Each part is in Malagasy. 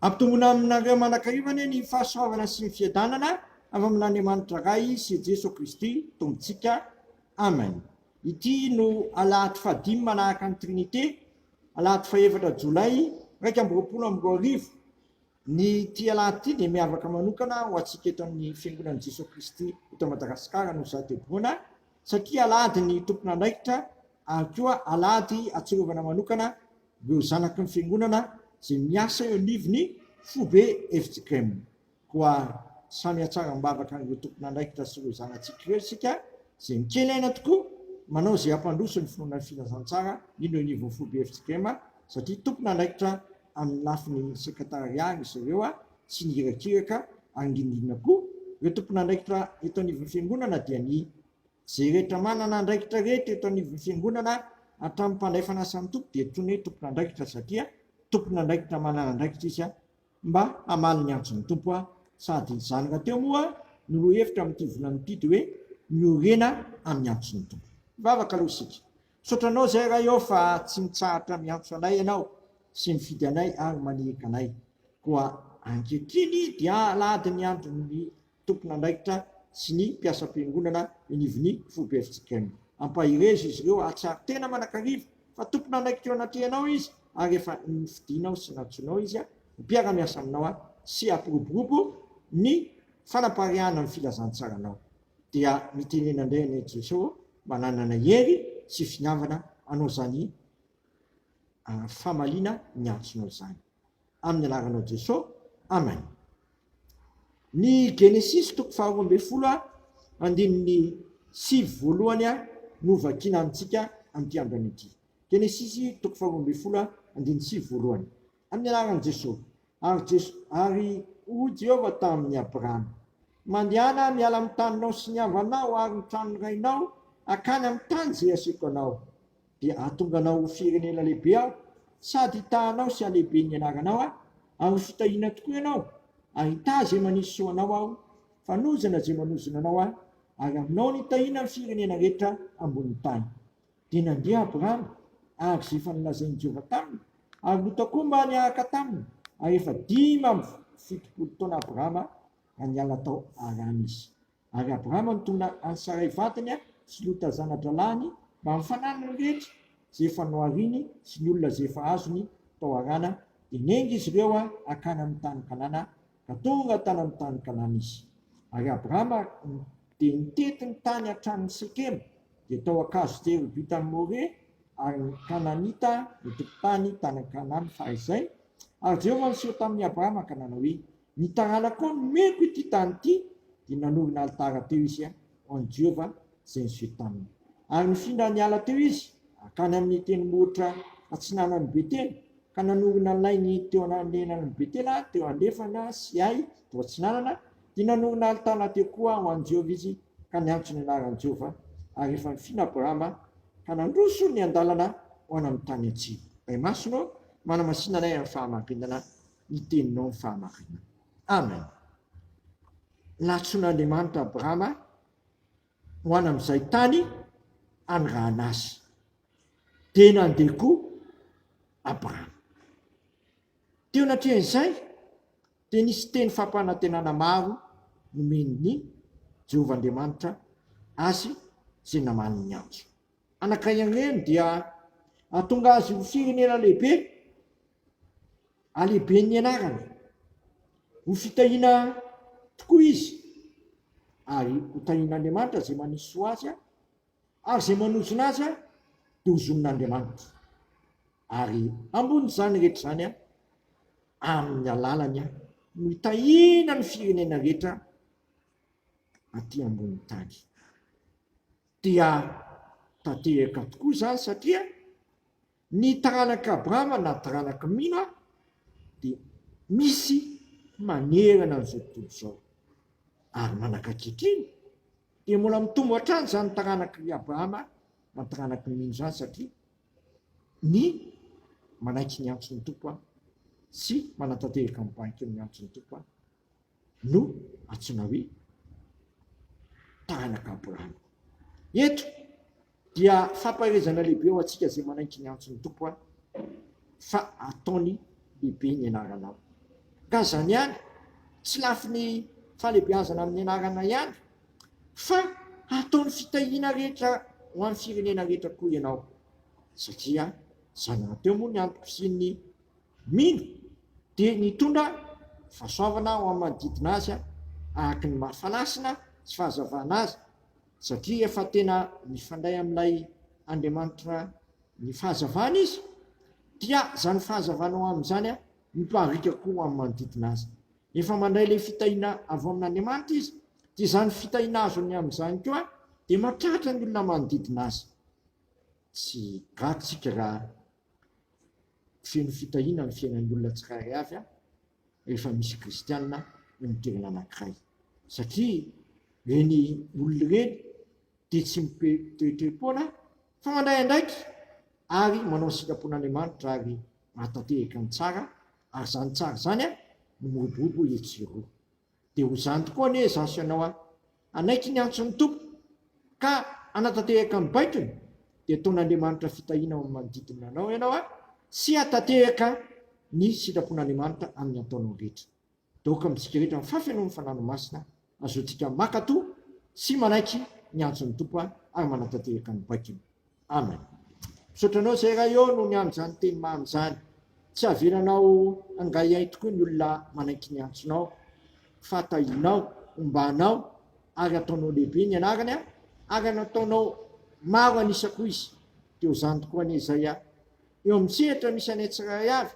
Ampitomboina aminareo mandrakariva anie ny fahasoavana sy ny fiadanana avy amin'Andriamanitra Ray sy Jeso Kristy Tompontsika. Amen. Ity no alahady fahadimy manahaka ny Trinite, alahady fahefatra Jolay iraika amby roapolo amby roa arivo. Ny ity alahady ity dia miavaka manokana ho antsika eto amin'ny Fiangonan'i Jeso Kristy eto Madagasikara no sahady heboana satria alahady ny tompon'andraikitra ary koa alahady atsiarovana manokana ireo zanaky ny fiangonana izay miasa eo anivon'ny foibe FJKM. Koa samy hatsara am-bavaka an'ireo tompon'andraikitra sy ireo zanatsika ireo isika izay mikely aina tokoa manao izay hampandroso ny finoana ny filazantsara mino eo anivon'ny foibe FJKM satria tompon'andraikitra amin'ny lafiny sekretariat ry zareo tsy ny irakiraka ary indrindra indrindra koa ireo tompon'andraikitra eto anivon'ny fiangonana dia ny Izay rehetra manana andraikitra rehetra eto anivon'ny Fiangonana, hatramin'ny mpandray fanasan'ny Tompo, dia antsoina hoe tompon'andraikitra satria tompon'andraikitra manana andraikitra izy mba hamaly ny antson'ny Tompo, sady izany rahateo moa no lohahevitra amin'ity volana ity, dia hoe miorena amin'ny antson'ny Tompo. Hivavaka aloha isika. Misaotra Anao izay Ray ô fa tsy mitsahatra miantso anay Ianao sy mifidy anay ary maniraka anay. Koa ankehitriny dia alahadin'ny andron'ny tompon'andraikitra sy ny mpiasam-piangonana inivin'ny foibe FJKM. Ampaherezo izy ireo hahatsiaro tena manakariva fa tompon'andraikitra eo anatrehanao izy ary efa nofidinao sy nantsoinao izy ho mpiara-miasa aminao sy hampiroborobo ny fanapariahana ny filazantsaranao. Dia mitenena indray anie Jesoa mba nanana hery sy finiavana hanao izany famaliana niantsonao izany. Amin'ny anaranao Jeso, Amen. Ny Genesisy toko faharoa ambin'ny folo andininy sivy voalohany no vakiana amintsika amin'ity andro ity. Genesisy toko faharoa ambin'ny folo andininy sivy voalohany. Amin'ny anaran'i Jeso. Ary Jeso, ary hoy Jehovah tamin'i Abrahama, Mandehana miala amin'ny taninao sy ny havanao ary ny tranon'ny rainao hankany amin'ny tany izay asiako anao. dia hahatonga anao ho firenena lehibe aho, sady hitahanao sy halehibe ny anaranao aho, ary ho fitahiana tokoa ianao, ary hitaha izay manisy soa anao aho, fanozana izay manozona anao aho, ary aminao no hitahiana ny firenena rehetra ambonin'ny tany. Dia nandeha Abrahama araka izay efa nolazain'i Jehovah taminy, ary Lota koa mba niaraka taminy, ary efa dimy amby fitopolo taona Abrahama raha niala tao Harana izy. Ary Abrahama nitondra an'i Saray vadiny sy Lota zana-drahalahiny mba hampifanany ny rehetra izay efa nohariny sy ny olona izay efa azony tao Harana, dia niainga izy ireo hankany amin'ny tany Kanana, ka tonga tany amin'ny tany Kanana izy. Ary Abrahama dia nitety ny tany hatramin'i Sekema, dia tao an-kazo tery ho vita amin'i More, ary ny Kananita nitompon-tany tany an-Kanana fahizay, ary Jehovah niseho tamin'i Abrahama ka nanao hoe, Ny taranakao nomeko ity tany ity, dia nanorina alitara teo izy ho an'i Jehovah izay niseho taminy. Ary nifindra niala teo izy hankany amin'ny tendrombohitra atsinanan'i Betela, ka nanorina ny lainy teo ananenan'i Betela teo andrefana sy Ay teo atsinanana, dia nanorina alitara teo koa ho an'i Jehovah izy, ka niantso ny anaran'i Jehovah. Ary efa nifina Abrahama, ka nandroso niandalana ho any amin'ny tany atsimo. Imasonao, manamasina anay amin'ny fahamarinana ny teninao ny fahamarinana. Amen. Nantsoin'Andriamanitra Abrahama ho any amin'izay tany hanirahana azy. Dia nandeha koa Abrahama. Teo anatrehan'izay dia nisy teny fampanantenana maro nomen'ny Jehovah Andriamanitra azy izay namany ny antso. Anankiray amin'ireny dia hahatonga azy ho firenena lehibe Halehiben'ny anarany. Ho fitahiana tokoa izy, ary hotahian'Andriamanitra izay manisy soa azy, ary izay manozona azy dia hozonin'Andriamanitra. Ary hambony izany rehetra izany amin'ny alalany no hitahiana ny firenena rehetra aty ambonin'ny tany. Dia tanteraka tokoa izany satria Ny taranak'i Abrahama na taranak'i Noa dia misy manerana an'izao tontolo izao, ary manaka ankehitriny dia mbola mitombo hatrany izany taranak'i Abrahama na taranak'i Noa izany satria ny manaiky ny antson'ny Tompo sy manatanteraka ny bankin'ny antson'ny Tompo no antsoina hoe taranaka Abrahama. Eto dia fampaherezana lehibe ho antsika izay manaiky ny antson'ny Tompo an, fa ataony lehibe ny anaranao. Ka izany ihany, tsy lafiny fahalebiazana amin'ny anarana ihany, fa ataony fitahiana rehetra ho an'ny firenena rehetra koa ianao, satria izany rahateo moa ny antoko sy ny Mino dia nitondra fahasoavana ho amin'ny manodidina azy araka ny maha fanasina sy fahazavana azy satria efa tena mifandray amin'ilay Andriamanitra ny fahazavana izy dia izany fahazavana ho amin'izany miparitaka koa ho amin'ny manodidina azy. Efa mandray ilay fitahiana avy ao amin'Andriamanitra izy dia izany fitahiana azony amin'izany koa dia mahatratra ny olona manodidina azy. Tsy gaga isika raha Feno fitahiana ny fiainan'ny olona tsirairay avy rehefa misy kristiana eo amin'ny toerana anankiray. Satria ireny olona ireny dia tsy mitoetoe-poana fa mandray andraiky ary manao ny sitrapon'Andriamanitra ary mahatanteraka ny tsara ary izany tsara izany no miroborobo etsy sy eroa. Dia ho izany tokoa anie izaho sy ianao an! Hanaiky ny antso ny Tompo, ka hanatanteraka ny baikony, dia ataon'Andriamanitra fitahiana ao amin'ny manodidina anao ianao an! Sy hahatanteraka ny sitrapon'Andriamanitra amin'ny ataonao rehetra. Daoka amintsika rehetra ny fahafenoan'ny Fanahinao Masina, ahazoantsika mankatò sy manaiky ny antson'ny Tompo ary manatanteraka ny baikony. Amen. Misaotra anao zay ray ô no niandry izany teny mamy izany. Tsy havelanao hangahiahy tokoa ny olona manaiky ny antsonao fa tahianao, ombanao ary ataonao lehibe ny anarany ary nataonao maro anisa koa izy. Dia ho izany tokoa anie izay a. Eo amin'ny sehatra misy anay tsirairay avy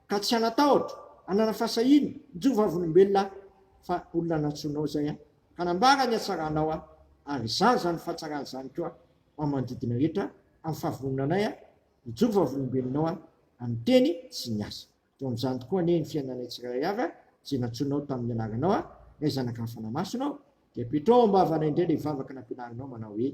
ka tsy hanatahotra, hanana fahasahiana, mijoro vavolombelona aho fa olona nantsoinao izay aho ka nambara ny hatsaranao aho ary izany izany fahatsarana izany koa amin'ny manodidina rehetra amin'ny fahavononanay aho hijoro vavolombelonao aho amin'ny teny sy ny asa. Teo amin'izany tokoa anie ny fiainanay tsirairay avy aho izay nantsoinao tamin'ny anaranao aho, Ray Zanaka ny Fanahy Masina ao dia apetraho ao am-bavanay indray ilay vavaka nampianarinao manao hoe,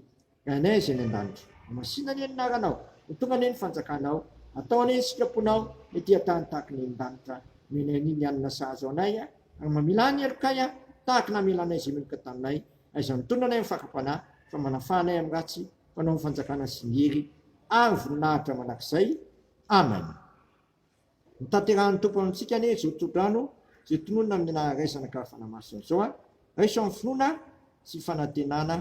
Ray anay izay any an-danitra, hamasina anie ny anaranao, ho tonga anie ny fanjakanao, atao anie ny sitraponao ny ety an-tany tahaka ny eny an-danitra, omenay anie ny hanina sahaza ho anay ary mamela ny helokay tahaka namelanay izay meloka taminay, Aiza mitondra anay ny fakam-panahy fa manafaha anay amin'ny ratsy, fanao ny fanjakana sy ny hery ary voninahitra mandrakizay. Amen. Ny tanterahan'ny Tompo amintsika anie izao tohodrano izay tononina amin'ny anararaisana ka fanamasina izao a! Raiso amin'ny finoana sy fanantenana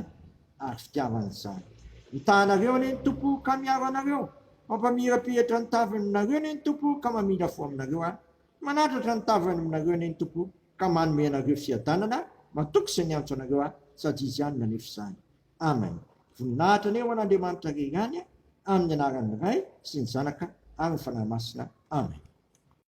ary fitiavana izany. Mitaha anareo anie ny Tompo ka miaro anareo, mampamirapiratra ny tavinareo anie ny Tompo ka mamindra fo aminareo a! Manandratra ny tavany aminareo anie ny Tompo ka manome anareo fiadanana matoky izay niantso anareo ahy sady Izy ihany nanefy izany. Amen. Voninahitra anie ho an'Andriamanitra Ray ihany amin'ny anaran'ny Ray sy ny Zanaka ary ny Fanahy Masina. Amen.